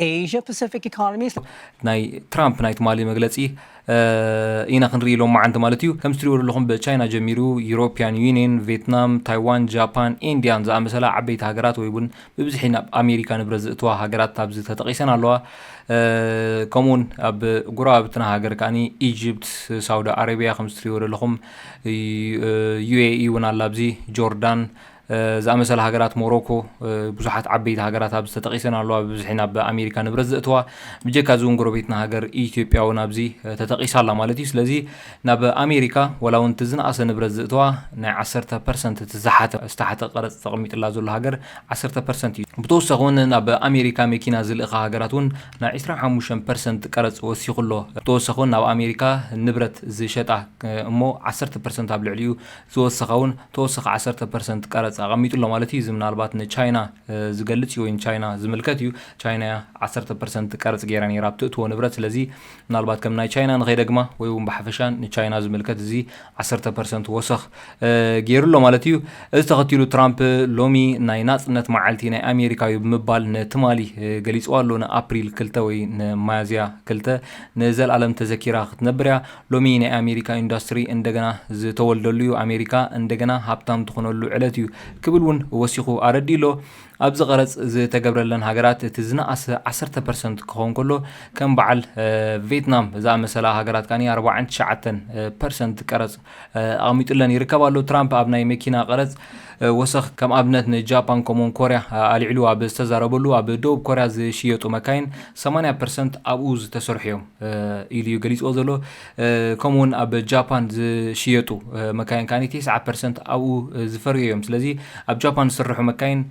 Asia Pacific economies ናይ ትራምፕ ናይ ትማሊ መግለፂ ኢና ክንርኢ ሎማዓንቲ ማለት እዩ ከምዚ ትሪእዎ ዘለኹም ብቻይና ጀሚሩ ዩሮፒያን ዩኒየን ቬትናም ታይዋን ጃፓን ኢንዲያን ዝኣመሰላ ዓበይቲ ሃገራት ወይ እውን ብብዝሒ ናብ ኣሜሪካ ንብረት ዝእትዋ ሃገራት ኣብዚ ተጠቂሰን ኣለዋ ከምኡውን ኣብ ጉረባብትና ሃገር ከዓኒ ኢጅፕት ሳውዲ ኣረቢያ ከምዚ ትሪእዎ ዘለኹም ዩኤኢ እውን ኣላ ኣብዚ ጆርዳን ዝኣመሰላ ሃገራት ሞሮኮ ብዙሓት ዓበይቲ ሃገራት ኣብዚ ተጠቒሰን ኣለዋ ብብዝሒ ናብ ኣሜሪካ ንብረት ዘእትዋ ብጀካ እዚ እውን ጎረቤትና ሃገር ኢትዮጵያ እውን ኣብዚ ተጠቒሳ ኣላ ማለት እዩ ስለዚ ናብ ኣሜሪካ ወላ እውን እቲ ዝነኣሰ ንብረት ዘእትዋ ናይ ዓሰርተ ፐርሰንት እቲ ዝሓተ ዝተሓተ ቀረፅ ተቐሚጥላ ዘሎ ሃገር ዓሰርተ ፐርሰንት እዩ ብተወሳኺ እውን ናብ ኣሜሪካ መኪና ዝልእኻ ሃገራት እውን ናይ 25 ፐርሰንት ቀረፅ ወሲኹ ኣሎ ብተወሳኺ እውን ናብ ኣሜሪካ ንብረት ዝሸጣ እሞ ዓሰርተ ፐርሰንት ኣብ ልዕሊኡ ዝወሰኸ ውን ተወሳኺ ዓሰርተ ፐርሰንት ቀረፅ ኣቐሚጡ ኣሎ ማለት እዩ። እዚ ምናልባት ንቻይና ዝገልፅ እዩ ወይ ንቻይና ዝምልከት እዩ። ቻይና እያ ዓሰርተ ፐርሰንት ቀረፅ ገይራ ነይራ ኣብ ትእትዎ ንብረት። ስለዚ ምናልባት ከም ናይ ቻይና ንኸይደግማ ወይ ውን ብሓፈሻ ንቻይና ዝምልከት እዚ ዓሰርተ ፐርሰንት ወሰኽ ገይሩ ኣሎ ማለት እዩ። እዚ ተኸቲሉ ትራምፕ ሎሚ ናይ ናፅነት መዓልቲ ናይ ኣሜሪካ እዩ ብምባል ንትማሊ ገሊፅዋ ኣሎ። ንኣፕሪል ክልተ ወይ ንሚያዝያ ክልተ ንዘልኣለም ተዘኪራ ክትነብር እያ። ሎሚ ናይ ኣሜሪካ ኢንዳስትሪ እንደገና ዝተወልደሉ እዩ፣ ኣሜሪካ እንደገና ሃብታም ትኾነሉ ዕለት እዩ ክብል እውን ወሲኹ ኣረዲኡ'ሎ። ኣብዚ ቀረጽ ዝተገብረለን ሃገራት እቲ ዝነኣሰ ዓሰርተ ፐርሰንት ክኸውን ከሎ ከም በዓል ቬትናም ዝኣመሰላ ሃገራት ከኣ ኣርባዓን ትሽዓተን ፐርሰንት ቀረጽ ኣቕሚጡለን ይርከብ ኣሎ። ትራምፕ ኣብ ናይ መኪና ቀረጽ ወሰኽ ከም ኣብነት ንጃፓን ከምኡውን ኮርያ ኣልዒሉ ኣብ ዝተዛረበሉ ኣብ ደቡብ ኮርያ ዝሽየጡ መካይን ሰማንያ ፐርሰንት ኣብኡ ዝተሰርሑ እዮም ኢሉ እዩ ገሊፅዎ ዘሎ። ከምኡውን ኣብ ጃፓን ዝሽየጡ መካይን ከኣ ቴስዓ ፐርሰንት ኣብኡ ዝፈርዩ እዮም። ስለዚ ኣብ ጃፓን ዝስርሑ መካይን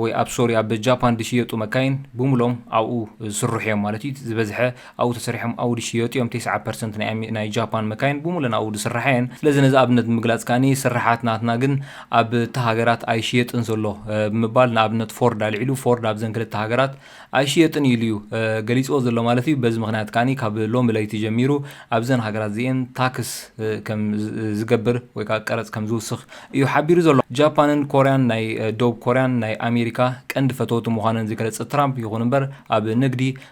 ወይ ኣብ ሶሪ ኣብ ጃፓን ዝሽየጡ መካይን ብሙሎም ኣብኡ ዝስርሑ እዮም ማለት እዩ ዝበዝሐ ኣብኡ ተሰሪሖም ኣውዲ ይሽየጡ እዮም፣ ቴስዓ ፐርሰንት ናይ ናይ ጃፓን መካይን ብሙለን ኣብኡ ዝስራሓ እየን፣ ስለዚ ነዚ ኣብነት ንምግላጽ ከኣ ስርሓት ናትና ግን ኣብቲ ሃገራት ኣይሽየጥን ዘሎ ብምባል ንኣብነት ፎርድ ኣልዒሉ ፎርድ ኣብዘን ክልተ ሃገራት ኣይሽየጥን እዩ ኢሉ እዩ ገሊጽዎ ዘሎ ማለት እዩ፣ በዚ ምኽንያት ከኣ ካብ ሎሚ ለይቲ ጀሚሩ ኣብዘን ሃገራት እዚኤን ታክስ ከም ዝገብር ወይ ከኣ ቀረጽ ከም ዝውስኽ እዩ ሓቢሩ ዘሎ። ጃፓንን ኮርያን ናይ ደቡብ ኮርያን ናይ ኣሜሪካ ቀንዲ ፈተውቲ ምዃነን ዝገለጸ ትራምፕ ይኹን እምበር ኣብ ንግዲ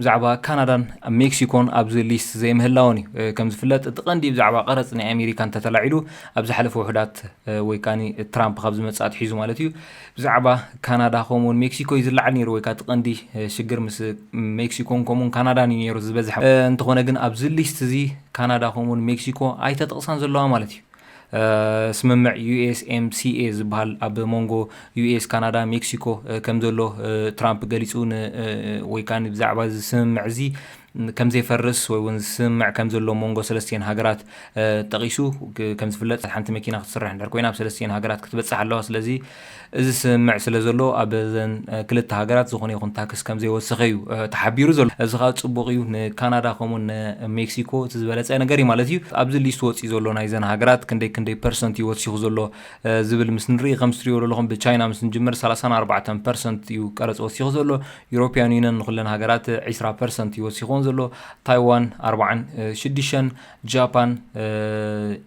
ብዛዕባ ካናዳን ሜክሲኮን ኣብዚ ሊስት ዘይምህላወን እዩ። ከም ዝፍለጥ እቲ ቀንዲ ብዛዕባ ቀረጽ ናይ ኣሜሪካ እንተተላዒሉ ኣብ ዝሓለፈ ውሑዳት ወይ ከኣ ትራምፕ ካብ ዝመጽእ ኣትሒዙ ማለት እዩ ብዛዕባ ካናዳ ከምኡውን ሜክሲኮ እዩ ዝለዓል ነይሩ ወይ ከኣ እቲ ቀንዲ ሽግር ምስ ሜክሲኮን ከምኡውን ካናዳን እዩ ነይሩ ዝበዝሐ። እንተኾነ ግን ኣብዚ ሊስት እዚ ካናዳ ከምኡውን ሜክሲኮ ኣይተጠቕሳን ዘለዋ ማለት እዩ። ስምምዕ USMCA ዝበሃል ኣብ ሞንጎ ዩኤስ፣ ካናዳ፣ ሜክሲኮ ከም ዘሎ ትራምፕ ገሊጹ ን ወይ ከኣ ብዛዕባ እዚ ስምምዕ እዚ ከም ዘይፈርስ ወይ እውን ስምምዕ ከም ዘሎ ኣብ ሞንጎ ሰለስቲኤን ሃገራት ጠቒሱ ከም ዝፍለጥ ሓንቲ መኪና ክትስራሕ እንድሕር ኮይና ኣብ ሰለስቲኤን ሃገራት ክትበጽሕ ኣለዋ ስለዚ እዚ ስምምዕ ስለ ዘሎ ኣብዘን ክልተ ሃገራት ዝኾነ ይኹን ታክስ ከም ዘይወሰኸ እዩ ተሓቢሩ ዘሎ። እዚ ከኣ ጽቡቕ እዩ፣ ንካናዳ ከምኡውን ንሜክሲኮ እቲ ዝበለጸ ነገር እዩ ማለት እዩ። ኣብዚ ሊስት ወጺኡ ዘሎ ናይዘን ሃገራት ክንደይ ክንደይ ፐርሰንት እዩ ወሲኹ ዘሎ ዝብል ምስ ንርኢ ከምዚ ትርእይዎ ዘለኹም ብቻይና ምስ ንጅምር ሰላሳን ኣርባዕተን ፐርሰንት እዩ ቀረጽ ወሲኹ ዘሎ። ዩሮፕያን ዩኒየን ንኹለን ሃገራት ዕስራ ፐርሰንት እዩ ወሲኹወን ዘሎ። ታይዋን ኣርብዓን ሽዱሸን፣ ጃፓን፣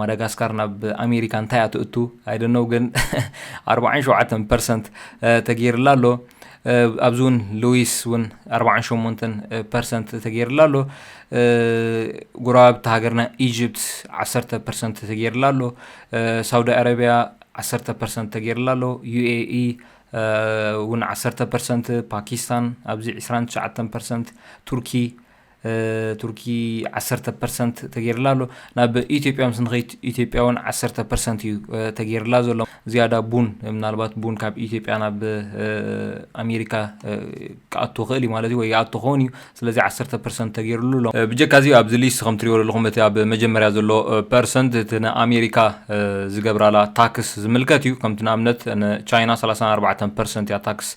ማዳጋስካር ናብ ኣሜሪካ እንታይ እያ ትእቱ ኣይደነው ግን ኣርባዓን ሸውዓተን ፐርሰንት ተገይርላ ኣሎ ኣብዚ እውን ሉዊስ እውን ኣርባዓን ሸሞንተን ፐርሰንት ተገይርላ ኣሎ ጉረባብቲ ሃገርና ኢጅፕት ዓሰርተ ፐርሰንት ተገይርላ ኣሎ ሳውዲ ኣረቢያ ዓሰርተ ፐርሰንት ተገይርላ ኣሎ ዩኤኢ እውን ዓሰርተ ፐርሰንት ፓኪስታን ኣብዚ ዕስራን ትሽዓተን ፐርሰንት ቱርኪ ቱርኪ ዓሰርተ ፐርሰንት ተገይርላ ኣሎ ናብ ኢትዮጵያ ምስ ንኸይት ኢትዮጵያ እውን ዓሰርተ ፐርሰንት እዩ ተገይርላ ዘሎ ዝያዳ ቡን ምናልባት ቡን ካብ ኢትዮጵያ ናብ ኣሜሪካ ክኣቶ ክእል እዩ ማለት እዩ ወይ ይኣቶ ክኸውን እዩ ስለዚ ዓሰርተ ፐርሰንት ተገይርሉ ኣሎ ብጀካ እዚ ኣብዚ ሊስት ከም ትሪኦ ዘለኹም እቲ ኣብ መጀመርያ ዘሎ ፐርሰንት እቲ ንኣሜሪካ ዝገብራላ ታክስ ዝምልከት እዩ ከምቲ ንኣብነት ቻይና 34 ፐርሰንት እያ ታክስ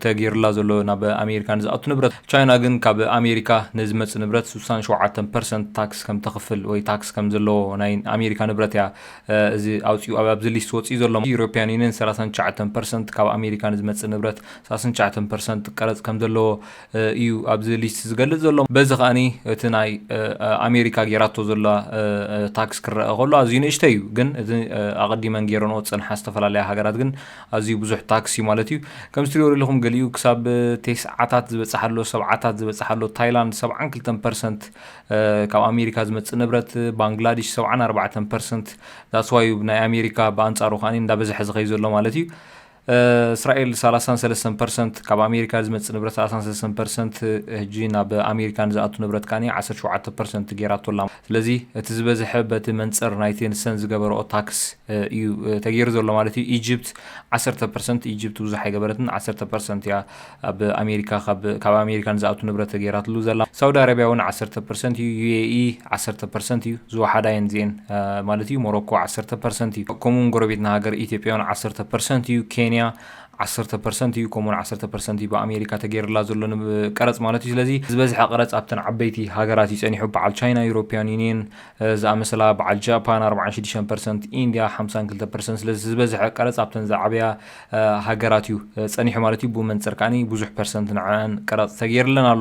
ተገይርላ ዘሎ ናብ ኣሜሪካ ንዝኣቱ ንብረት። ቻይና ግን ካብ ኣሜሪካ ንዝመጽእ ንብረት ስሳን ሸውዓተን ፐርሰንት ታክስ ከም ተኽፍል ወይ ታክስ ከም ዘለዎ ናይ ኣሜሪካ ንብረት እያ እዚ ኣውጺኡ ኣብዚ ሊስት ወጺኡ ዘሎ። ዩሮፕያን ዩኒየን ሰላሳን ትሽዓተን ፐርሰንት ካብ ኣሜሪካ ንዝመጽእ ንብረት ሰላሳን ትሽዓተን ፐርሰንት ቀረጽ ከም ዘለዎ እዩ ኣብዚ ሊስት ዝገልጽ ዘሎ። በዚ ከኣ እቲ ናይ ኣሜሪካ ገይራቶ ዘላ ታክስ ክረኣ ከሎ ኣዝዩ ንእሽተይ እዩ ግን እዚ ኣቐዲመን ገይረንኦ ዝጸንሓ ዝተፈላለያ ሃገራት ግን ኣዝዩ ብዙሕ ታክስ እዩ ማለት እዩ። ከምዚ ትሪእዎ ዘለኹም ገሊኡ ክሳብ ቴስዓታት ዝበጽሕ ኣሎ፣ ሰብዓታት ዝበጽሕ ኣሎ። ታይላንድ ሰብዓን ክልተን ፐርሰንት ካብ ኣሜሪካ ዝመጽእ ንብረት፣ ባንግላዲሽ ሰብዓን ኣርባዕተን ፐርሰንት ዳትስ ዋይ እዩ ናይ ኣሜሪካ ብኣንጻሩ ከኣ እንዳበዝሐ ዝኸይድ ዘሎ ማለት እዩ። እስራኤል ሰላሳን ሰለስተን ፐርሰንት ካብ ኣሜሪካ ዝመጽእ ንብረት ሰላሳን ሰለስተን ፐርሰንት ሕጂ ናብ ኣሜሪካ ንዝኣቱ ንብረት ከኣ ዓሰርተ ሸውዓተ ፐርሰንት ገይራቶ ኣላ። ስለዚ እቲ ዝበዝሐ በቲ መንጽር ናይቲ ንሰን ዝገበረኦ ታክስ እዩ ተገይሩ ዘሎ ማለት እዩ። ኢጅፕት ዓሰርተ ፐርሰንት፣ ኢጅፕት ብዙሕ ኣይገበረትን፣ ዓሰርተ ፐርሰንት እያ ኣብ ኣሜሪካ ካብ ካብ ኣሜሪካ ንዝኣቱ ንብረት ተገይራትሉ ዘላ። ሳውዲ ኣረብያ እውን ዓሰርተ ፐርሰንት እዩ፣ UAE ዓሰርተ ፐርሰንት እዩ፣ ዝወሓዳ እየን እዚኤን ማለት እዩ፣ ሞሮኮ ዓሰርተ ፐርሰንት እዩ፣ ከምኡ'ውን ጎረቤትና ሃገር ኢትዮጵያ እውን ዓሰርተ ፐርሰንት እዩ፣ ኬንያ ዓሰርተ ፐርሰንት እዩ ከምኡውን ዓሰርተ ፐርሰንት እዩ ብኣሜሪካ ተገይርላ ዘሎ ቀረፅ ማለት እዩ ስለዚ ዝበዝሐ ቀረፅ ኣብተን ዓበይቲ ሃገራት እዩ ፀኒሑ በዓል ቻይና ዩሮፒያን ዩኒየን ዝኣመሰላ በዓል ጃፓን ኣርብዓን ሽዱሽተን ፐርሰንት ኢንድያ ሓምሳን ክልተ ፐርሰንት ስለዚ ዝበዝሐ ቀረፅ ኣብተን ዝዓበያ ሃገራት እዩ ፀኒሑ ማለት እዩ ብኡ መንፅር ከዓኒ ብዙሕ ፐርሰንት ንዐኣን ቀረፅ ተገይርለን ኣሎ